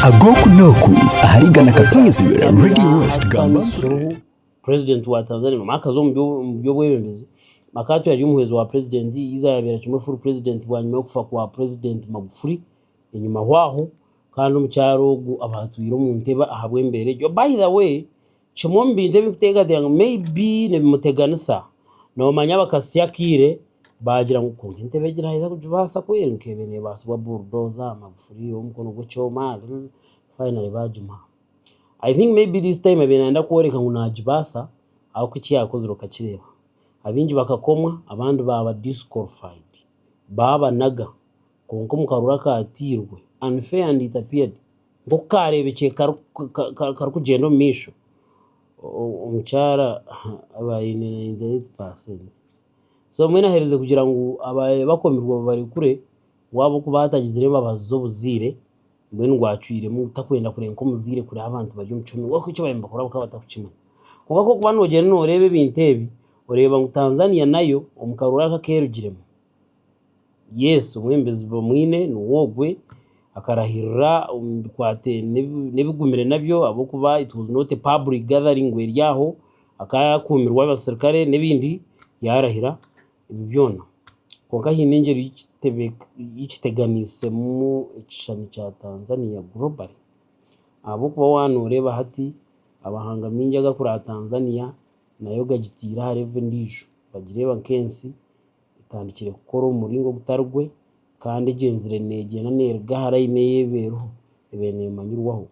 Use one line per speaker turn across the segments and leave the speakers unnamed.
ag'oku n'oku ahari Ghana Katonyezibwe Radio West Samia gamba mpurire. Suluhu, Purezidenti
wa Tanzania ngu akaza omu byo- omu by'obwebembezi Makato yari omuhwezi wa purezidenti yiza yabeera kimwe furu purezidenti bwanyima y'okufa kwa Purezidenti Magufuli enyima hwaho kandi omukyara ogu aba atwire omu ntebe ahabw'embeera egyo. By the way, Kimwe omu bintu ebirikuteekateeka ngu may be nibimuteganisa, noomanya abakatsya akaire baagira ngu kwonka entebe egi naaheza kugibaasa kweri ngu ebe neebaasibwa burudoza, magufuri ow'omukono gw'ekyoma finally baagimuha. I think may be this time abaire naayenda kworeka ngu naagibaasa ahabw'oku eki yaakozire okakireeba. Abaingi bakakomwa abandi baaba disqualified, baabanaga. Kwonka omu karuru akaatairwe, unfair and it appeared, nk'oku kaareebekire karikugyenda omu maisho, omukyara aba aine ninety eight percent. So mbwenu aherize kugira ngu abaabaire bakomirwe babarekure, we ahabw'okuba ahaatagizire embabazi z'obuzaire, mbwenu ngu acwiremu takwenda kureba nk'omuzaire kureba abantu bari omu kihome, kwonka eki baabaire nibakora bakaba batarikukimanya. Kwonka ku orikuba noogyenda nooreeba ebintu ebi, oreeba ngu Tanzania nayo omu karuru aka aku erugiremu, yes obumwe emibazi bamwine niwe ogwe akarahirira omu bikwate n'ebigumire nabyo ahabw'okuba it was not a public gathering ngu eri aho akaba akumirwe abasirikare n'ebindi yarahira ebi byona kwonka haine engyeri ei kiteganiisemu ekishushani kya Tanzania globally ahabw'okuba waaba nooreeba hati amahanga maingi agakuraba Tanzania nayo gagitaire aha level endiijo nibagireeba nk'ensi. etandikire kukora omu muringo ogutari gwe kandi egyenzire neegyenda neeruga aha layini ei ebaire eriho ebaire neemanyirwaho.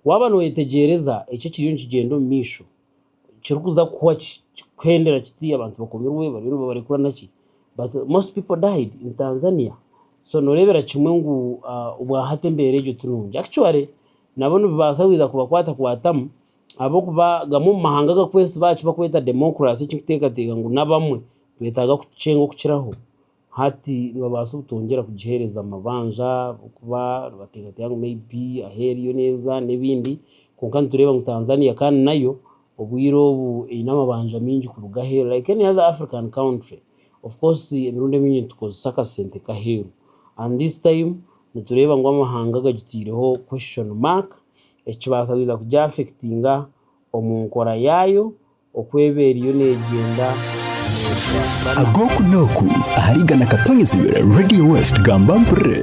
Waaba noyeetegyereza eki ekiriyo nikigyenda omu maisho kirikuza kuhwa ki kikuhendera kiti abantu bakomirwe bariyo nibabarekura naki but most pipo died in Tanzania so nooreebera kimwe ngu obwa hati embeera egyo tinungi actually nabo nibibaasa kubakwatakwatamu ahabw'okuba gamwe omu mahanga agakwesiba aha ki bakweta demokurasi ekirikuteekateeka ngu n'abamwe nibetaaga kukikyenga okukiraho, hati nibabaasa obutongyera kugiheereza mabanja ahabw'okuba nibateekateeka ngu may be ahu eri yo neeza n'ebindi. Kwonka nitureeba ngu Tanzania kandi nayo obwire obu eine amabanja maingi kuruga aheeru like any other African country. Of course emirundi emingi nitukozesa akasente k'aheeru and this time... nitureeba ngu amahanga gagitaireho question mark ekibaasa kwija kugi affectinga omu nkora yaayo oku eba eriyo negyenda neekuraakurana.
Ag'oku n'oku ahari Ghana Katonyizibwe Radio West Gamba Mpurire.